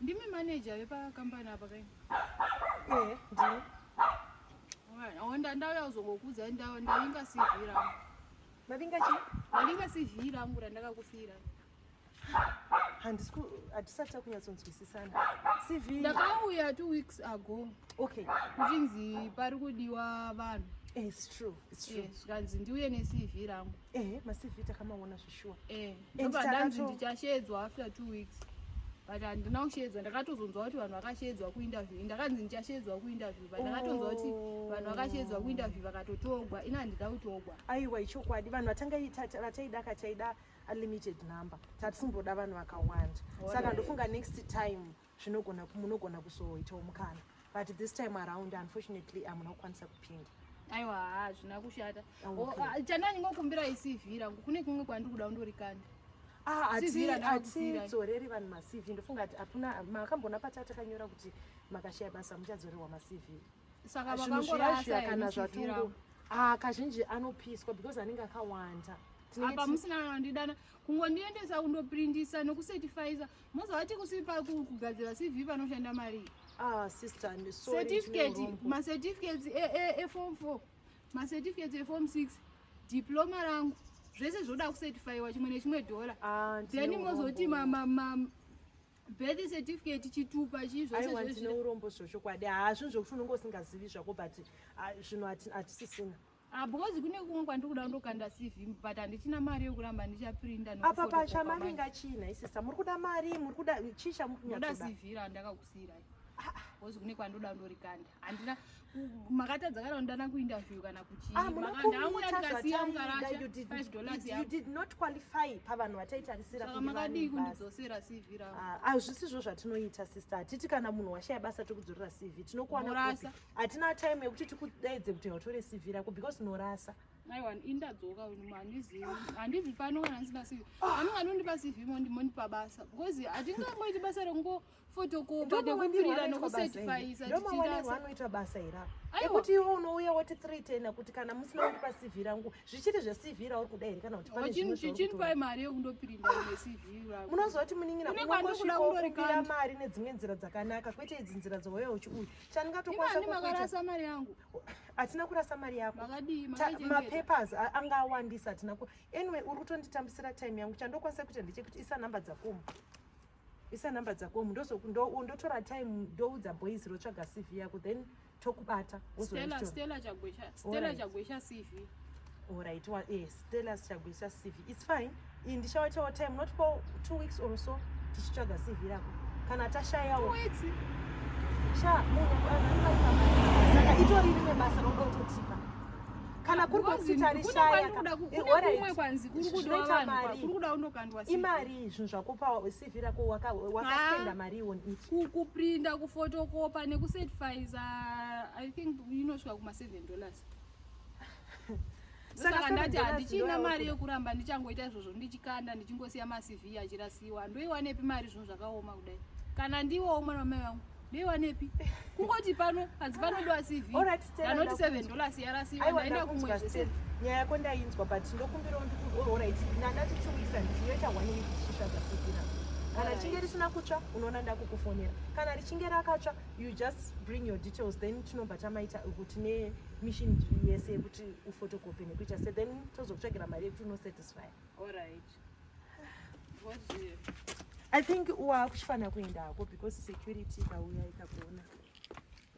Ndimi manager vepa company apa kai? Eh, ndini. Onda ndauya kuzongokuudza ndau ndavinga CV rangu. Ndavinga chi? Ndavinga CV rangu randakakufira. Handisi ku hatisati takunyatsonzwisisana. CV Ndakauya 2 weeks ago. Okay. Kuchinzi pari kudiwa vanhu. Eh, it's true. It's true. Yes, kanzi ndiuye ne CV rangu. ehe maCV takamaona zvishuwa eh And ndobva ndanzi takato- ndichasheedzwa after two weeks but handina kusheedzwa ndakatozonzwa kuti vanhu vakasheedzwa kuinterview ndakanzi ndichasheedzwa kuinterview but ndakatonzwa kuti Oh. vanhu vakasheedzwa kuinterview vakatotogwa ini handida kutogwa aiwa ichokwadi vanhu vatanga ita- vataida ka taida unlimited number tatisumboda vanhu vakawanda saka Alright. ndofunga next time zvinogona munogona kuzoitawo mukana but this time around unfortunately amuna kukwanisa kupinda aiwa haa zvina kushata ah, chandanyingokumbira isivi rangu kune kumwe kwandiri kuda undorikanda hatidzoreri ah, vanhu macv ndofunga kuti apuna makambona pata takanyora kuti makashaya basa muchadzorerwa macv saka vakangorasa kana zvatongo ah, kazhinji anopiswa because anenge akawanda apa musina anondidana kungondiendesa kundoprindisa nekusetifaiza Mozovati kusipa kugadzira CV panoshanda mari. Ah sister I'm sorry. Certificate, ma certificates e e e form 4, ma certificates e form 6, diploma rangu zvese zvoda kucertifyiwa chimwe nechimwe dollar. Ah, then mozoti ma ma, ma birth certificate chitupa chii zvese zvourombo zvochokwadi hazvinhu zvokuti unonge usingazivi zvako but ah, zvinhu hatisisina Ah, because kune kumwe kwandiri kuda kundokanda CV but handichina mari yokuramba ndichaprinda apa pasha mavinga china isisa muri kuda mari muri kuda chii chamukuda CV randakakusiirai ah, ah. because kune kwandoda kundorikanda handina makatadza kana kundana kuinterview kana kuchiiaaahazvisi zvo zvatinoita sister hatii kana munhu washaya basa tikudzorera cv tinokuwana hatina time yekuti tikudaidze kuti hautore cv rako because norasa aiwa indadzoka handizivi handivi pano kana ndisina cv ani vanondipa cv mondipa basa because hatingangoiti basa rekungo fotokopa nekupirira nekusetifayisa anoita basa ira ekuti iwe unouya woti three tena kuti kana musina kundipa cv rangu zvichiri zvecv rauri kuda here kana kutichinipai mari yekundopirinda necv rangu munozoti munin'ina unongosvika ukupira mari nedzimwe nzira dzakanaka kwete idzi nzira dzouya uchiuya chandingatokwanisa kukuita makarasa mari yangu hatina kurasa mari yako makadii mapapers anga awandisa hatina ku anyway uri kutonditambisira time yangu chandokwanisa kuita ndechekuti isa number dzakomu isa number dzakomu ndotora time ndoudza boys rotsvaga cv yako then tokubata stella stella chagwesha stella chagwesha cv Alright, well, yes. then asichagoisa cv its fine iyi ndichawaitawo time not for two weeks or so tichitsvaga cv rako kana tashayawo sha munhu saka itori rine basa roda utotipa kana kuri kwakutita rishaya imari zvinhu zvakupa cv rako wakaspenda mari iwon it kuprinda kufotokopa nekucertifiza i think inosvika kuma seven dollars saka ndati handichina mari yekuramba ndichangoita izvozvo ndichikanda ndichingosiya macv achirasiwa ndoiwanepi mari zvinhu zvakaoma kudai kana ndiwowo mwana wamai vangu ndoiwanepi kungoti pano hanzi panodiwa cv anoti seven dollars yarasiwa ndaenda kumwe zvese nyaya yako ndainzwa but ndokumbirawo ndikuorit nandati chiuyisa ndichiyoita one week tichisvaka cv rangu kana richinge risina kutsva unoona ndakukufonera kana richinge rakatsva you just bring your details then tinobva tamaita kuti ne mission yese yekuti ufotokope nekuita se then tozokutsvagira mari yekuti unosatisfy i think waakuchifanira kuenda hako because security ikauya ikakuona